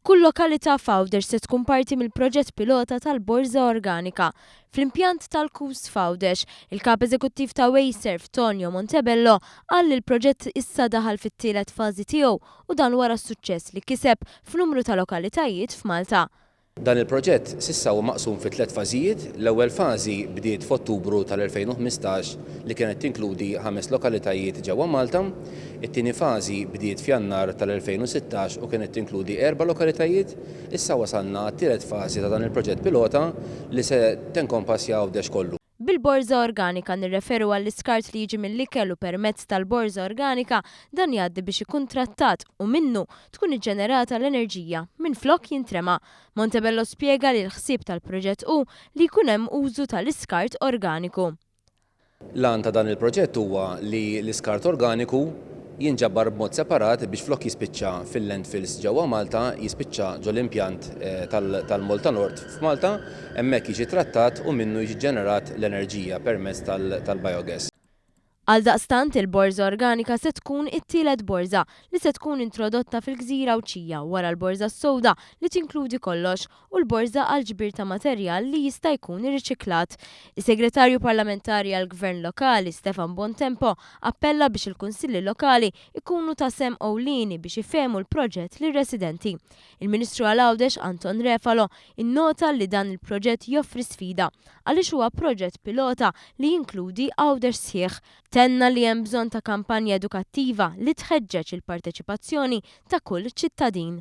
Kull lokalità f'Għawdex se tkun parti mill-proġett pilota tal-Borża Organika. Fl-impjant tal-KUS f'Għawdex, il-Kap Eżekuttiv ta' Waserv, Tonio Montebello, qal li l-proġett issa daħal fit-tielet fażi tiegħu u dan wara s-suċċess li kiseb f'numru ta' lokalitajiet f'Malta. Dan il-proġett s'issa huwa maqsum fi tliet fażijiet. L-ewwel fażi bdiet f'Ottubru tal-2015 li kienet tinkludi ħames lokalitajiet ġewwa Malta. It-tieni fażi bdiet f'Jannar tal-2016 u kienet tinkludi erba' lokalitajiet. Issa wasalna għat-tielet fażi ta' dan il-proġett pilota li se tenkompassja Għawdex kollu. Bil-borża organika nirreferu għall-iskart li jiġi mill-ikel u permezz tal-borża organika dan jgħaddi biex ikun trattat u minnu tkun iġġenerata l-enerġija minflok jintrema. Montebello spjega li l-ħsieb tal-proġett hu li jkun hemm użu tal-iskart organiku. L-għan ta' dan il-proġett huwa li l-iskart organiku, jinġabar b'mod separat biex flok jispiċċa fil-landfills ġewwa Malta, jispiċċa ġol-impjant tal-Moltanord f'Malta, hemmhekk jiġi trattat u minnu jiġi ġġenerat l-enerġija permezz tal-biogas. Għaldaqstant, il-Borża Organika se tkun it-tielet borża li se tkun introdotta fil-gżira Għawdxija wara l-Borża s-Sewda li tinkludi kollox u l-Borża għall-Ġbir ta' Materjal li jista' jkun irriċiklat. Is-Segretarju Parlamentari għall-Gvern Lokali, Stefan Bontempo, appella biex il-Kunsilli Lokali jkunu ta' sehem ewlieni biex ifehmu l-proġett lir-residenti. Il-Ministru għal Għawdex, Anton Refalo, innota li dan il-proġett joffri sfida għaliex huwa proġett pilota li jinkludi Għawdex sħiħ. Tenna li hemm bżonn ta' kampanja edukattiva li tħeġġeġ il-parteċipazzjoni ta' kull ċittadin.